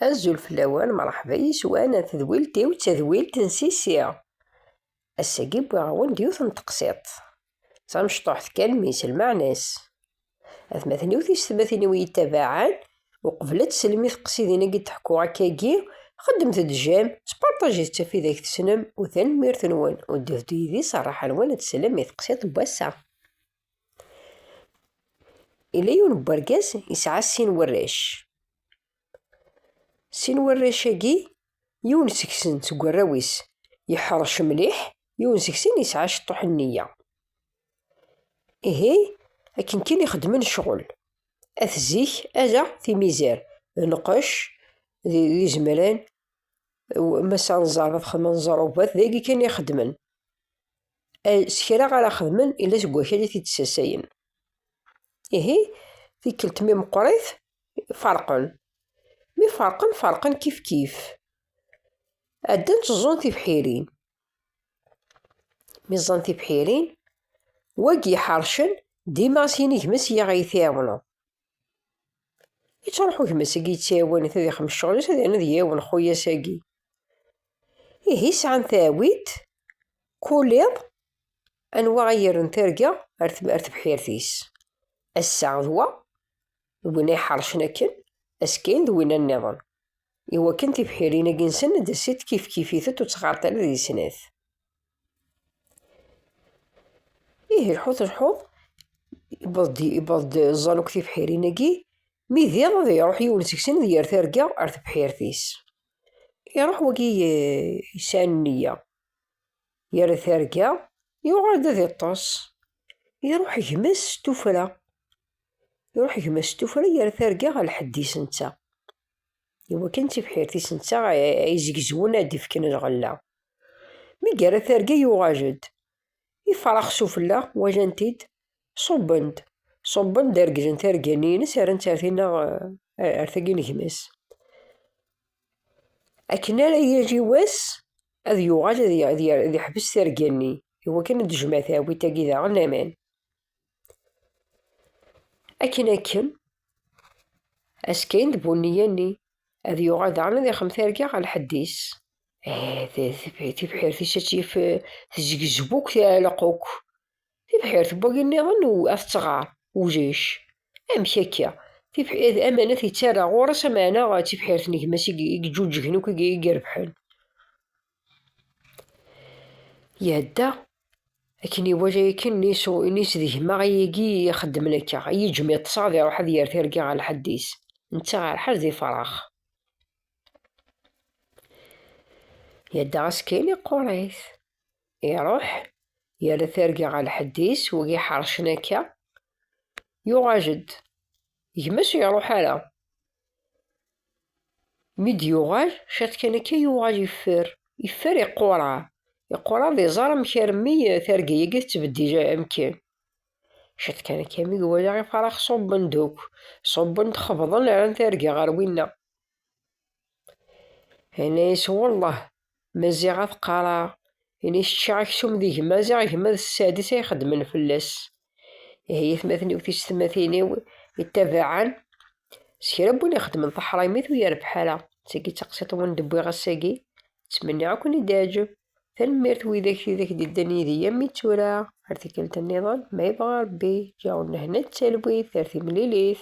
Azul fell-awen, mṛeḥba yes-wen a tedwilt-iw d tadwilt n Sisi. Ass-agi wwiɣ-awen-d yiwet n teqsiṭ, d tamecṭuḥt kan mi s lmeɛna-s. Atmaten-iw tiysetmatin-iw iyi-ttabaɛen, uqbel ad teslem i teqsidin-agi d-ḥkuɣ akkagi, xeddmet-d j'aime, sparṭajit ttaf ideg tesnem, u tanemmirt-nwen, u ddut-d yid-i s rraḥa-nwen ad teslem i teqsiṭ n wass-a. Ila yiwen n urgaz yesɛa sin warrac. Sin warrac-agi, yiwen seg-sen seg warraw-is yeḥṛec mliḥ, yiwen seg-sen yesɛa ciṭuḥ n nneyya. Ihi akken kan i xeddmen ccɣel, at zik ala timizar, lqecc d izemran, mass anẓar d axxam anẓar, d ayagi kan i xeddmen. eh, s kra ara xedmen ila seg wakal i t-id-ssasayen. Ihi, tikkelt mi meqqrit, ferqen. Mi ferqen, ferqen kifkif. Addan tteẓẓun tibḥirin. Mi ẓẓan tibḥirin, wagi iḥercen dima s yinigem-is i aɣ-iɛawneḍ. Yettruḥ gma-s-agi yettɛiwan ad ixdem ccɣel-is ad yernu ad yawen xuyas-agi. Ihi sɛan taɛwilt, kul iḍ anwa ay yerren targa ar tebḥirt-is. Ass-a d wa, d win ay ḥercen akken, askayen d winna niḍen. Iwakken tibḥirin-agi-nsen ad d-asit kifkif-itent ur ttɣarent ara deg snat. Ihi lḥut lḥut, iwweḍ-d iwweḍ-d ẓẓaluk tibḥirin-agi, mi d iḍ ad iruḥ yiwen seg-sen ad yerr targa ar tebḥirt-is. Iruḥ wagi yesɛan neyya, yerra targa, yuɣal-d ad iṭṭes. Iruḥ gma-s s tuffra, iruḥ gma-s s tuffra yerra targa ɣer lḥedd-is netta. Iwakken tibḥirt-is netta ay zegzwen ad d-fken lɣella. Mi yerra targa yuɣal-d. Ifrax s ufella walan-t-id, ṣubben-d. Ṣubben-d reglen targa-nni-ines rran-tt ar tinna ar tagi n gma-s. Akken ara yili wass ad yuɣal ad yeḥbes targa-nni iwakken ad d-tejmeɛ teɛwilt-agi daɣen aman. akken akken askin d bunniya-nni ad yuɣal daɣen ad ixem targa ɣer lḥedd-is tibḥirt-is ad tt-yif tezgezbu akk teɛleq akk tibḥirt n wagi nniḍen ad tettɣar ulac amek akka amanat yettarra ɣur-s ameɛna d tibḥirt n gma-s i yeǧǧuǧgen akk i irebḥen Iɛedda akken iwala yakan nis d gma ayagi i ixeddmen akka, i yiǧem yeṭṭes ad iruḥ ad yerr tirga ɣer lḥedd-is, netta ɣer ḥedd di farax. Iɛedda ɣas kan iqquṛ-it, iruḥ yerra tirga ɣer lḥedd-is, wigi ḥeṛcen akka, yuɣal-d gma-s ur iruḥ ara mi d-yuɣal ciṭ kan akka yuɣal yeffer yeffer iqquṛa iqquṛa d iẓar amek armi targa-agi tettbeddil amkan ciṭ kan akka mi iwala ifarax ṣubben-d akk ṣubben-d xebḍen rran targa ɣer winna Yenna-yas, Wellah, Maziɣ ad qqareɣ, ini s ččiɣ aksum di gma, ziɣ gma d sseɛd-is ay xeddmen fell-as. Ihi yatmaten-iw tisetmatin-iw ittabaɛen, s kra n win ixeddmen taḥraymit ur yerbeḥ ara. D tagi i d taqsiḍt n win d-wwiɣ ass-agi. Ttmenniɣ ad ken-id-teɛǧeb. Tanemmirt widak tidak i d-yeddan yid-i armi d tura. Ar tikkelt nniḍen, ma yebɣa Rebbi, ǧǧiɣ nnehna d talwit ar timlilit.